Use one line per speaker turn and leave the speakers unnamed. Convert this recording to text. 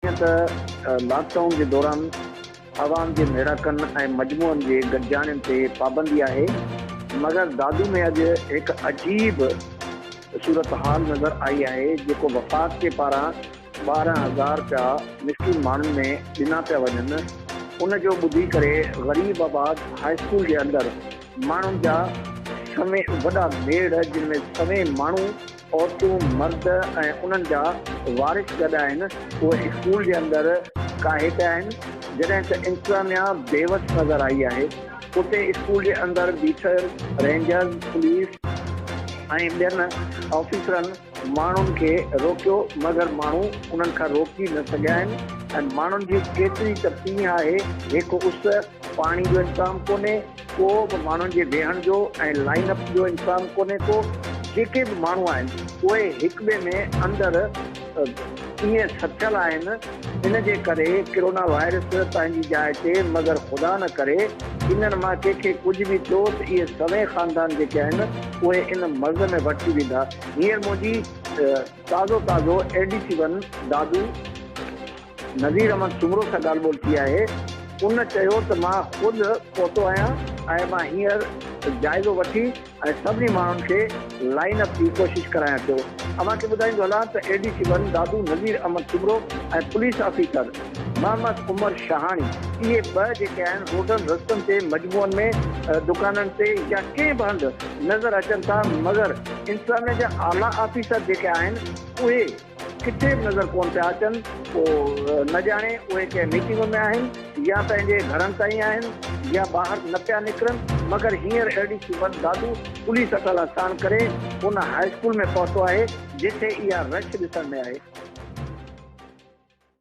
جيئن ته lockdown جي دوران عوام جي ميڙاڪن ۽ مجموعن جي گڏجاڻين تي پابندي آهي مگر دادو ۾ اڄ هڪ عجيب صورتحال نظر آئي آهي جيڪو وفاق جي پاران ٻارهن هزار رپيا مسڪين ماڻهن ۾ ڏنا پيا وڃن ان جو ٻڌي ڪري غريب آباد هاء اسڪول جي اندر ماڻهن جا سوين وڏا ميڙ جن ۾ سوين ماڻهو عورتون، مرد ۽ انهن جا وارث گڏ آهن، اهي اسڪول جي اندر ڪاهيٽ آهن، جڏهن ته انتظاميا بيوس نظر آئي آهي، اتي اسڪول جي اندر بيٺل رينجرز، پوليس ۽ ٻين آفيسرن ماڻهن کي روڪيو مگر ماڻهو انهن کان روڪي نه سگهيا آهن ۽ ماڻهن جي ڪيتري ته پيهه آهي، هڪ اس. پاڻي جو انتظام ڪونهي ڪو به ماڻهن جي ويهڻ جو ۽ لائين اپ جو انتظام ڪونهي ڪو جيڪي به ماڻهو آهن اهي هڪ ٻئي ۾ اندر ائين سٿيل آهن ان جي ڪري ڪرونا وائرس پنهنجي جاء تي مگر خدا نه ڪري انهن مان ڪنهن کي ڪجهه به ٿيو ته اهي سوين خاندان جيڪي آهن اهي ان مرض ۾ ورتي ويندا هينئر منهنجي تازو تازو A D C one Dadu Nazir Ahmed Soomro سان ڳالهه ٻولهه ٿي آهي، ان چيو ته مان خود پهتو آهيان ۽ مان هينئر جائزو وٺي ۽ سڀني ماڻهن کي لائين اپ جي ڪوشش ڪرايان ٿيو، اوهان کي ٻڌائيندو هلان ته A D C one Dadu Nazir Ahmed Soomro ۽ police officer Muhammad Umar Shahani اهي ٻه جيڪي آهن روڊن رستن تي مجموعن ۾ دڪانن تي يا ڪنهن به هنڌ نظر اچن ٿا مگر انتظاميه جا اعليٰ آفيسر جيڪي آهن اهي ڪٿي به نظر ڪونه پيا اچن، پوء نه ڄاڻي اهي ڪنهن ميٽنگ ۾ آهن يا پنهنجي گهرن تائين آهن يا ٻاهر نه پيا نڪرن، مگر هينئر A D C one Dadu police اٽالا ساڻ ڪري ان هاء اسڪول ۾ پهتو آهي، جتي اها رش ڏسڻ ۾ آهي.